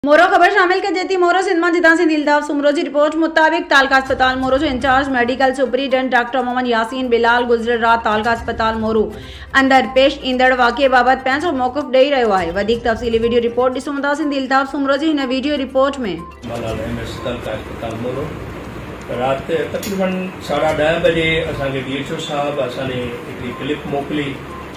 مورو خبر شامل ڪجي ٿي مورو سنڌ مان جدا سنڌي الطاف سومرو جي رپورٽ مطابق تعلقه اسپتال مورو جو incharge medical superintendent doctor Muhammad Yasin Bilal گذريل رات تعلقه اسپتال مورو اندر پيش ايندڙ واقعي بابت پنهنجو موقف ڏئي رهيو آهي وڌيڪ تفصيلي ويڊيو رپورٽ ڏسون ٿا سنڌي الطاف سومرو جي هن ويڊيو رپورٽ ۾ ملال ايم ايس تعلقه اسپتال مورو رات تقريبن ساڍا ڏهه بجي اسان کي ڊي ايڇ او صاحب اسان ڏي هڪڙي ڪلپ موڪلي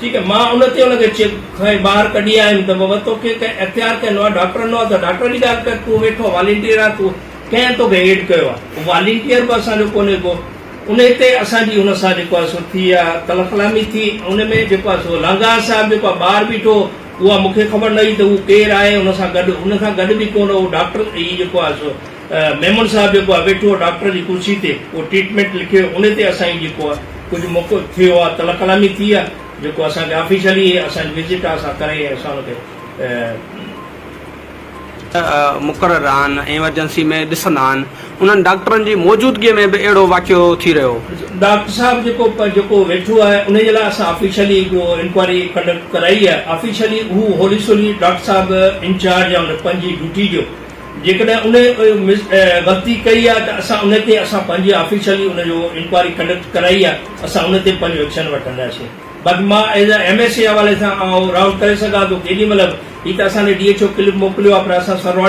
ٺيڪ آهي مان ان تي ان کي چپ کانئن ٻاهر ڪڍي آيم ته بابا توکي ڪنهن ايف آء آر ڪئي نو آهي ڊاڪٽر نو آهي ته ڊاڪٽر جي ڳالهه ڪر تون ويٺو آهي والينٽيئر آهي تون ڪنهن توکي ايڊ ڪيو آهي هو والينٽيئر به اسان جو ڪونهي ڪو ان تي اسان جي ان سان جيڪو آهي سو ٿي اها تلخ ڪلامي ٿي ان ۾ جيڪو آهي سو لانگاهه صاحب جيڪو آهي ٻاهر بيٺو هو اها مون کي خبر نه هئي ته هو ڪير آهي ان سان گڏ ان سان گڏ به ڪو نه هو ڊاڪٽر هي جيڪو آهي سو ميمڻ صاحب جيڪو آ ويٺو آ ڊاڪٽر جي ڪرسي تي اهو ٽريٽمينٽ لکي انهي تي اسان جي جيڪو آ ڪجهه موقعو ٿيو آ تلهه ڪلامي ٿي آ جيڪو اسان کي آفيشلي اسان جي وزٽ آ اسان ڪري ۽ اسان ان کي. مقرر آهن ايمرجنسي ۾ ڏسندا آهن انهن ڊاڪٽرن جي موجودگي ۾ به اهڙو واقعو ٿي رهيو. ڊاڪٽر صاحب جيڪو جيڪو ويٺو آ انهي جي لاء اسان آفيشلي جو انڪوائري ڪنڊڪٽ ڪرائي آ آفيشلي اهو هولي سولي ڊاڪٽر صاحب انچارج آ ان پنهنجي ڊيوٽي جو جيڪڏهن انهي غلطي ڪئي آهي ته اسان انهي تي اسان پنهنجي آفيشلي ان جو انڪوائري ڪنڊڪٽ ڪرائي آهي اسان انهي تي پنهنجو ايڪشن وٺنداسين باقي مان as a M S A حوالي سان آئون راؤنڊ ڪري سگهان ٿو ڪيڏي مهل به هي ته اسان ڏي ڊي ايڇ او کي ڪلپ موڪليو آهي پر اسان سرواڻي